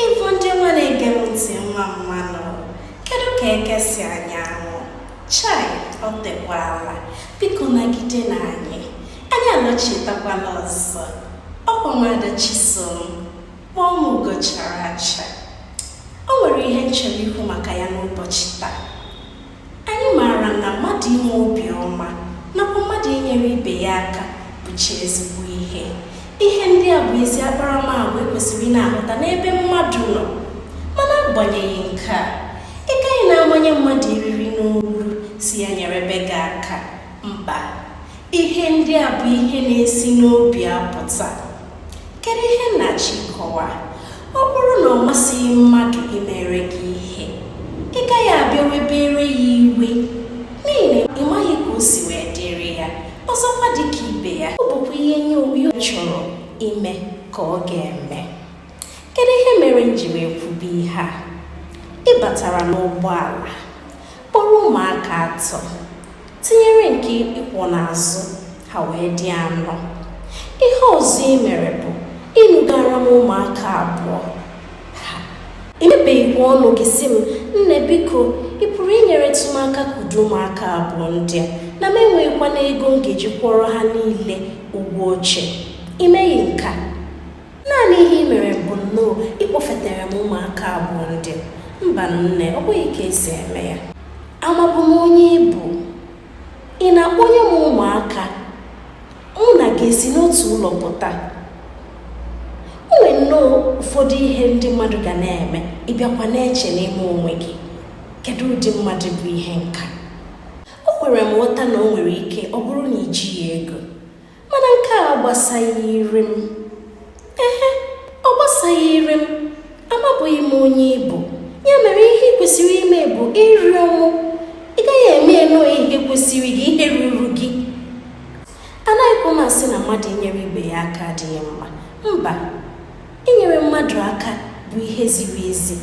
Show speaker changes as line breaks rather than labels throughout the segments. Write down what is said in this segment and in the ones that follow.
Igbo ndị ọma na-ege m ntị mma mma nụ kedu ka eke si anya anwụ chai ọ tekwala biko nagidenụ anyị anyị alọchitakwala ọzọ ọkwa nwada chisom kpọọ m ugo chara acha o nwere ihe m chọrọ ikwu maka ya n'ụbọchị taa Anyị maara na mmadụ inwe obiọma nakwa mmadụ inyere ibe ya aka bụcha ezigbo ihe. Ihe ndị a bụ ezi akparamagwa e kwesịrị ịna-ahụta n'ebe mmadụ nọ. Mana agbanyeghị nke a, ị gaghị na-amanye mmadụ eriri n'olu sị ya nyerebe gị aka. Mba, ihe ndị a bụ ihe na-esi n'obi apụta. kedu ihe m na-achọ ịkọwa ọ bụrụ na ọ masịghị mmadụ imere gị ihe ị gaghị abịa webere ya iwe n'ihi na ị maghị ka o si wee dịrị ya ọzọkwa dị ka ibe ya ọ bụkwa ihe onye obi ọ chọrọ ime ka ọ ga-eme kedu ihe mere m ji wee kwube ihe a ị batara n'ụgbọala kpọrọ ụmụaka atọ tinyere nke ị kwọ n'azụ ha wee dị anọ ihe ọzọ ị mere bụ inugara m ụmụaka abụọ i mepeghịkwa ọnụ gị sị m nne biko ị pụrụ inyeretụ m aka kudo ụmụaka abụọ ndị a na m enweghịkwanụ ego m ga-eji kwụọrọ ha niile ụgwọ oche i meghị nke a naanị ihe ị mere bụ nnọọ ịkpọfetere m ụmụaka abụọ ndị a mba nne ọ bụghị ka e si eme ya amabu m onye ị bụ ị na-akpọnye m ụmụaka mụ na gị esi n'otu ụlọ pụta o nwere nnọọ ụfọdụ ihe ndị mmadụ ga na-eme ị bịakwa na-eche n'ime onwe gị kedu ụdị mmadụ bụ ihe nka o kwere m nghọta na o nwere ike ọ bụrụ na i jighị ego mana nke a agbasaghịrị m ehe ọ gbasaghịrị m amabughị m onye ị bụ ya mere ihe ị kwesịrị ime bụ ịrịọ mụ ị gaghị eme nnọọ ka ihe kwesịrị gị ihe ruru gị anaghịkwa m asị na mmadụ inyere ibe ya aka adịghị mma mba inyere mmadụ aka bụ ihe ziri ezi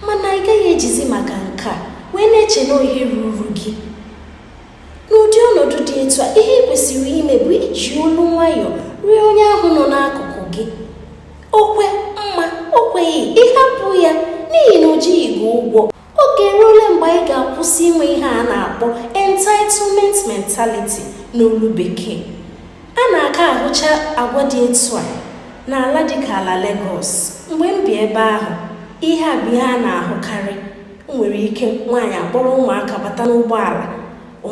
mana ị gaghị ejizi maka nke a wee na-eche na ọ ihe ruru gị n'ụdị ọnọdụ dị etu a ihe ị kwesịrị ime bụ iji olu nwayọọ rịọ onye ahụ nọ n'akụkụ gị o kwe mma o kweghị ị hapụ ya n'ihi na o jighị gị ụgwọ oge eruola mgbe anyị ga-akwụsị inwe ihe a na-akpọ entitlement mentality n'olu bekee a na-aka ahụcha agwa dị etu a n'ala dịka ala Lagos mgbe m bi ebe ahụ ihe a bụ ihe a na-ahụkarị o nwere ike nwaanyị akpọrọ ụmụaka bata n'ụgbọala ọ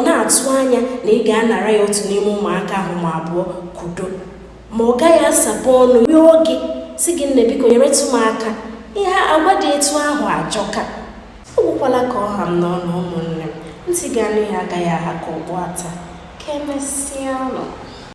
na-atụ anya na ị ga-anara ya otu n'ime ụmụaka ahụ ma abụọ kudo ma ọ gaghị asapụ ọnụ rịọ gị sị gị nne biko nyeretụ m aka ihe agwa dị etu ahụ ajọka ọ gwụkwala ka ọ ha m n'ọnụ ụmụnne m ntị ga-anụ ya agaghị aha ka okpu ata ka emesịa nụ